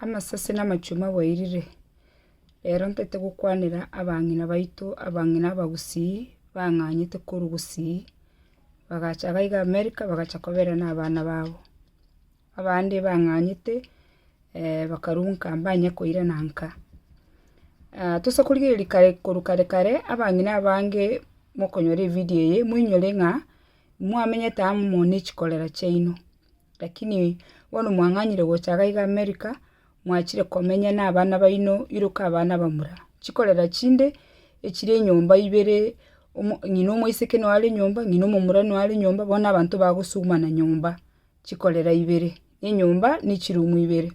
Amasase na amachwe mwaboirire, rero ntagete gokwanera abang'ina baito, abang'ina abagusii, bang'anyete korwa gusii, bagacha abaiga America bagacha koberana abana babo, abande bang'anyete bakarwa nka mbanye koirana nka. tosa korigereria kare korwa kare kare, abang'ina abange mokonyora ebidio eye, moinyore ng'a, mwamenyete amo ne chikorera chiaino. Lakini bono mwang'anyire gocha iga iga America, mwachire komenya na abana baino iroka abana bamura. Chikorera chinde, echire enyomba ibere, omo- ng'ina omoiseke noyo are nyomba, ng'ina omomura noyo are nyomba, bono abanto bagosugumana nyomba, chikorera ibere, enyomba ne chiroom ibere.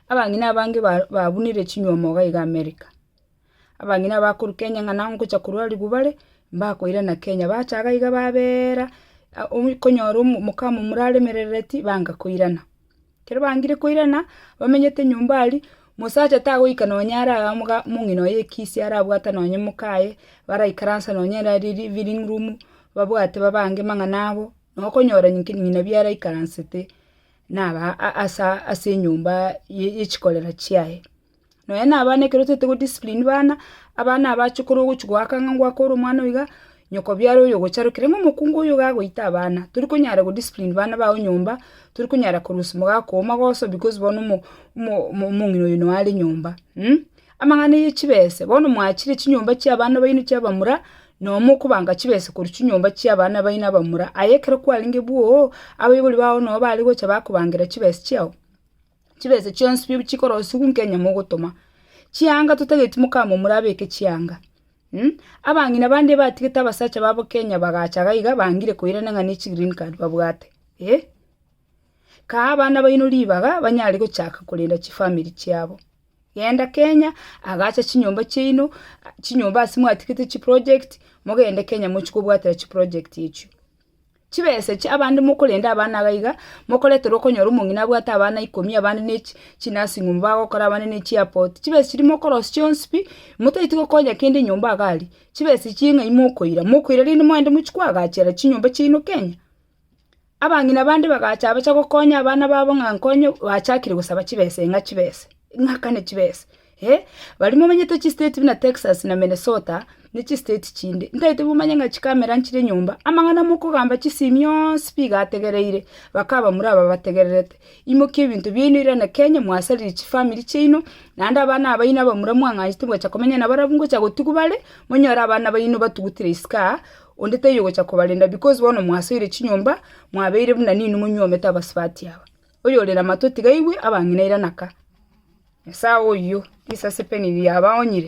Abang'ina abange ba- babunire chinywomo iga iga America. Abang'ina abakoruka enyang'ana ngocha korwa rigubare, mbakoirana Kenya, bacha iga iga babeera omu- konyora omo- omokama omura aremerereti, banga koirana. Ekero bangire koirana, bamenyete nyomba aria, mosacha tagoika nonya ara moga- mong'ina oye ekisi arabwate nonye mokaye, baraikaransa nonye era ri- living room, babwate babange mang'ana abo, na okonyora nki- ng'ina bi araikaransete, naba a- asa ase enyomba ye- yechikorera chiaye. Nonya nabana ekero totaete go discipline bana, abana aba ache korwa ogochia goaka ng'a ngoaka ore omwana oiga, nyokobiara oyo ogocharokire ng'a omokungu oyo iga agoita abana. Tori konyara go discipline bana bao nyomba, tori konyara korusia omogaka oo magoso because bono omo omo omong'ina oyo noe are nyomba mh. Amang'ana ya chibese, bono mwachire chinyomba chia abana baino chia abamura, nonya mokobanga chibese korwa chinyomba chia abana baino abamura, aye ekero kwarenge bwooo, abaibori bao noe bare gocha bakobangera chibesa chiao. chibese chionsi bi chikorosigwa nkenye mogotoma. Chianga totageti mokama omorabeke chianga. Mh, abang'ina bande batigete abasacha babo Kenya bagacha iga iga bangire koirana ng'a ne chi green card babwate. Eh! Kaa abana baino ribaga banyare gochaka korenda chifamiri chiabo. Genda Kenya, agacha chinyomba chiaino, chinyomba ase mwatigete chiprojegti, mogende Kenya mochie kobwatera chiprojegti echio. Chibese chi'abande mokorenda abana iga na iga, mokoreterwa okonyora omong'ina abwate abana ikomi, abande ne chinasing'umu bagokora, abande ne chiapoti. Chibese chiria mokorosia chionsi pi, motaeti gokonya kende enyomba iga aria. Chibese echi ching'ai mokoira? Mokoira rende mwaende mochie koagachera chinyomba chiaino Kenya? Abang'ina bande bagacha abacha gokonya abana babo ng'a nkonye, bachakire gosaba chibese ng'a chibese, ng'akane chibese. Ee, baria momanyete chistate buna Texas na Minnesota, ne chistate chinde, ntaete momanye ng'a chikamera nchire enyomba, amang'ana mokogamba chisemi onsi bigo ategereire, bakaba mura aba bategererete. Imokia ebinto biaino irane Kenya, mwasaririe chifamiri chiaino, naende abana abaino abamura mwang'anchete ngocha komenya nabarabwo ngocha gotugu bare, monyore abana baino batugutire isiko aa, onde taiyo ogocha kobarenda because bono mwasoire chinyomba, mwabeire buna ninwe monyuomete abasubati aba. Oyore namatwe tiga aigwe abang'ina eira naka. Nyasae oyio, risase peni riabaonyire.